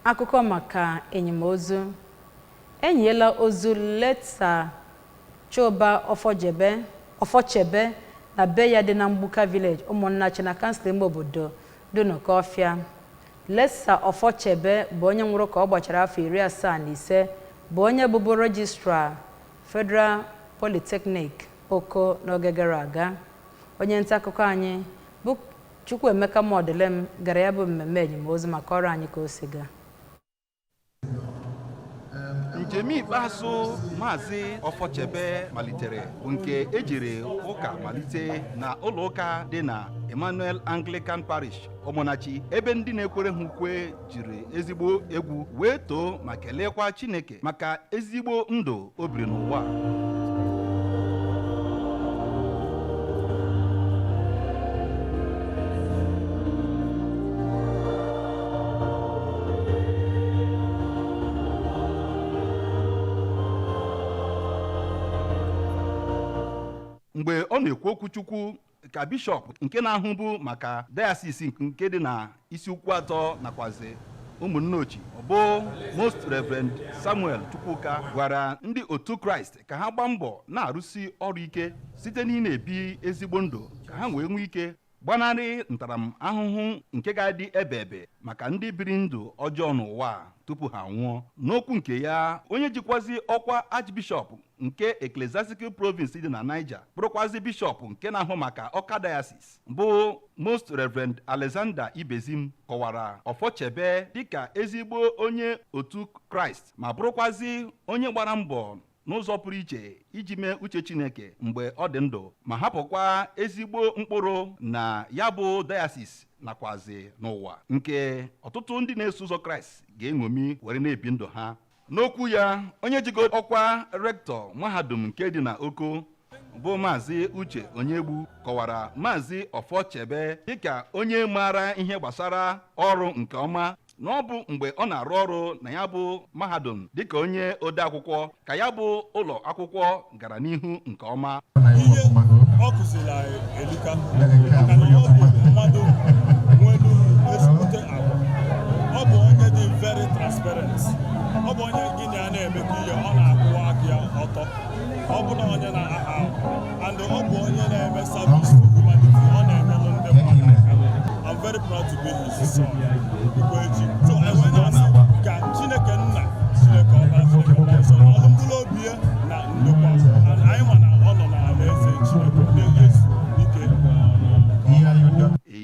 Akụkọ maka enyimozu. E nyiela ozu late Sir Chuba Ofochebe na be ya dị na Mgbuka Village, Ụmụnnachi na Kansụl ime obodo Dunukọfịa. Late Sir Ofochebe bụ onye nwụrụ ka ọ gbachara afọ iri asaa na ise bụ onye bụbu Registrar Federal Polytechnic, Oko n'oge gara aga. Onye ntaakụkọ anyị bụ Chukwuemeka Mọdịlịm gara ya bụ mmemme enyimozu ma kọrọ anyị ka o si gaa. njem ikpeazụ maazị ọfọchebe malitere bụ nke ejiri ụka malite na ụlọụka dị na emmanuel anglican parish ụmụnnachi ebe ndị na-ekwere ha ukwe jiri ezigbo egwu wee too ma keleekwa Chineke maka ezigbo ndụ o biri n'ụwa mgbe ọ na-ekwu okwuchukwu ka bishọp nke na-ahụbu maka dayasis nke dị na isuikwuatọ nakwazi ụmụnneochi bụ most reverend samuel chukwuka gwara ndị otu kraịst ka ha gbaa mbọ na-arụsi ọrụ ike site n'ịna-ebi ezigbo ndụ ka ha wee nwee ike gbanarị ntaramahụhụ nke ga-adị ebe ebe maka ndị biri ndụ ọjọọ n'ụwa tupu ha nwụọ n'okwu nke ya onye jikwazi ọkwa archbishọp nke ecclesiastical province dị na niger bụrụkwazi bishọp nke na-ahụ maka ọka diocese bụ most reverend alexander ibezim kọwara ọfọchebe dịka ezigbo onye otu kraịst ma bụrụkwazi onye gbara mbọ n'ụzọ pụrụ iche iji mee uche chineke mgbe ọ dị ndụ ma hapụkwa ezigbo mkpụrụ na ya bụ diocese nakwazi n'ụwa nke ọtụtụ ndị na-eso ụzọ kraịst ga-eṅomi were na-ebi ndụ ha N'okwu ya, onye jigo ọkwa rektọ mahadum nke dị na Oko bụ Maazị Uche Onyegbu kọwara Maazị Ọfọchebe dịka onye maara ihe gbasara ọrụ nke ọma na ọ bụ mgbe ọ na-arụ ọrụ na ya bụ mahadum dịka onye odeakwụkwọ ka ya bụ ụlọ akwụkwọ gara n'ihu nke ọma ihe ọ kụzili anyị elika maka na ọ bụ mmadụ nwelu ezigbote agwa ọ bụ onye dị very transparent ọ bụ onye gị na ya na-emekọ ihe ọ na-akwụwa aka ya ọtọ ọ bụ na onye na-aha ahụ and ọ bụ onye na-eme service to humanity ọ na-enyelụ ndị mmadụ aka I'm very proud to be here.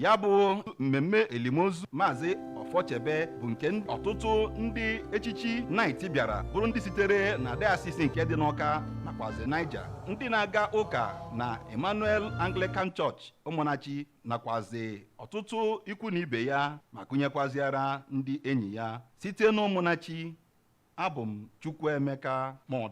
ya bụ mmemme elimozu maazị ọfọchebe bụ nke ọtụtụ ndị echichi naịti bịara bụrụ ndị sitere na diocese nke dị n'ọka nakwazi niger ndị na-aga ụka na emmanuel anglican church ụmụnachi nakwazi ọtụtụ ikwu na ibe ya ma gụnyekwaziara ndị enyi ya site n'ụmụnachi abụ m Chukwuemeka Modi